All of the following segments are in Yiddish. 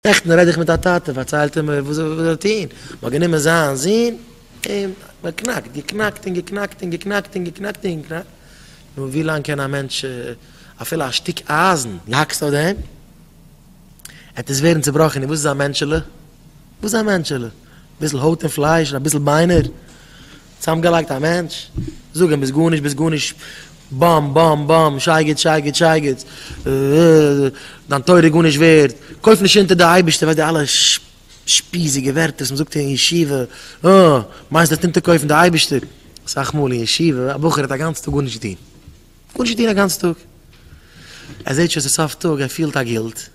נעכטן רעד איך מיט א טאטע, פארציילט ער מיר וואס ער האט געטון, מען האט גענומען זיין זון און באקנאקט, געקנאקט און געקנאקט און געקנאקט און געקנאקט און געקנאקט, נו ווי לאנג קען א מענטש אפילו א שטיק אייזן, דו האקסט אויף דעם עט עס ווערן צובראכן, און וואס איז א מענטשעלע, וואס איז א מענטשעלע, אביסל הויט און פלייש און אביסל ביינער, צאמגעלייגט א מענטש, זאג אים ביסט גארנישט ביסט גארנישט, באם באם באם, שייגעץ שייגעץ שייגעץ, דיין תורה איז גארנישט ווערד, קויף נישט אונטער די אייבערשטער, ווייסט די אלע שפיזיגע ווערטער וואס מען זאגט אין ישיבה, אה, מיינסט דו וועסט אונטערקויפן די אייבערשטער, אסאך מאל אין ישיבה, א בחור האט א גאנץ טאג גארנישט געטון, גארנישט געטון א גאנץ טאג, ער זעט שוין ס'איז סוף טאג, ער פילט א גילט.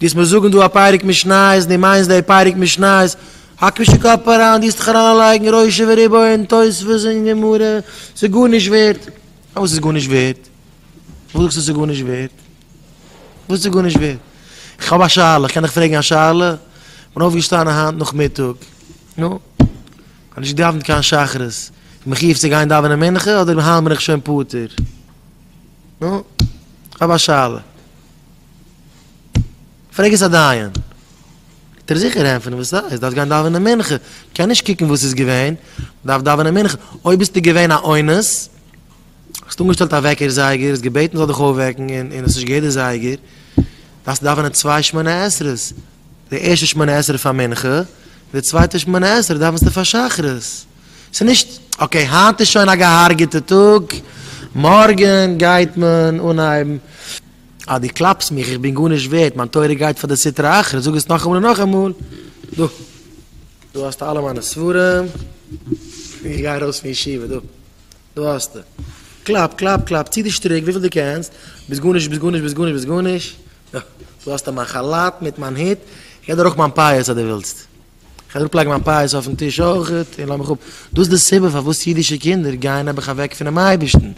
דאס מיר זאגן דא א פרק משניות און דו מיינסט די פרק משניות, האק נישט די קאפ אריין, דו זוכסט דיך אריינלייגן ראשי וריבו אין תוספות אין גמרא, ס'איז גארנישט ווערט. פארוואס איז גארנישט ווערט? פארוואס זאגסטו ס'איז גארנישט ווערט? פארוואס איז גארנישט ווערט? איך האב א שאלה, איך קען דיך פרעגן א שאלה? איך בין אויפגעשטאנען היינט נאכמיטאג, נו, איך האב נישט געדאווענט קיין שחרית, כ'בין מחיוב צו גיין דאווענען מנחה אדער היינט בין איך שוין פטור? נו, איך האב א שאלה. פרעג עס א דיין, וועט ער זיכער ענטפערן וואס סאיז, דארפסט גיין דאווענען מנחה, קען נישט קוקן וואס איז געווען, דארפסט דאווענען מנחה, אויב ביסטו געווען א אונס, האסט אנגעשטעלט א וועקער זייגער, האסט געבעטן זאל דיך אויפוועקן און האסט נישט געהערט די זייגער, דארפסטו דאווענען צוויי שמונה עשרה'ס, די ערשטע שמונה עשרה פאר מנחה, און די צווייטע שמונה עשרה דאווענסטו פאר שחרית, סאיז נישט אקעי היינט איז שוין א געהארגעטע טאג, מארגען גייט מען אנהייבן. אז דו קלאפסט מיך, איך בין גארנישט ווערד, מיין תורה גייט פאר די סטרא אחרא, זאג עס נאכאמאל און נאכאמאל, דא, דא האסטו אלע מיינע ספרים, איך גיי ארויס פון ישיבה, דא, דא האסטו, קלאפ, קלאפ, קלאפ, צי די שטריק וויפיל דו קענסט, ביסט גארנישט, ביסט גארנישט, ביסט גארנישט, ביסט גארנישט, דא, דא האסטו מיין כאלאט מיט מיין הוט, איך גיי דיר אויך מיין פאות אז דו ווילסט. איך אראפ לייגן מיין פייעס אויפן טיש אויכעט און לאז מיך אפ, דאס די סיבה פארוואס אידישע קינדער גייען נעבעך אוועק פונעם אייבערשטן,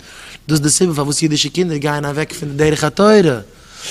דאס די סיבה פארוואס אידישע קינדער גייען אוועק פון די דרך התורה,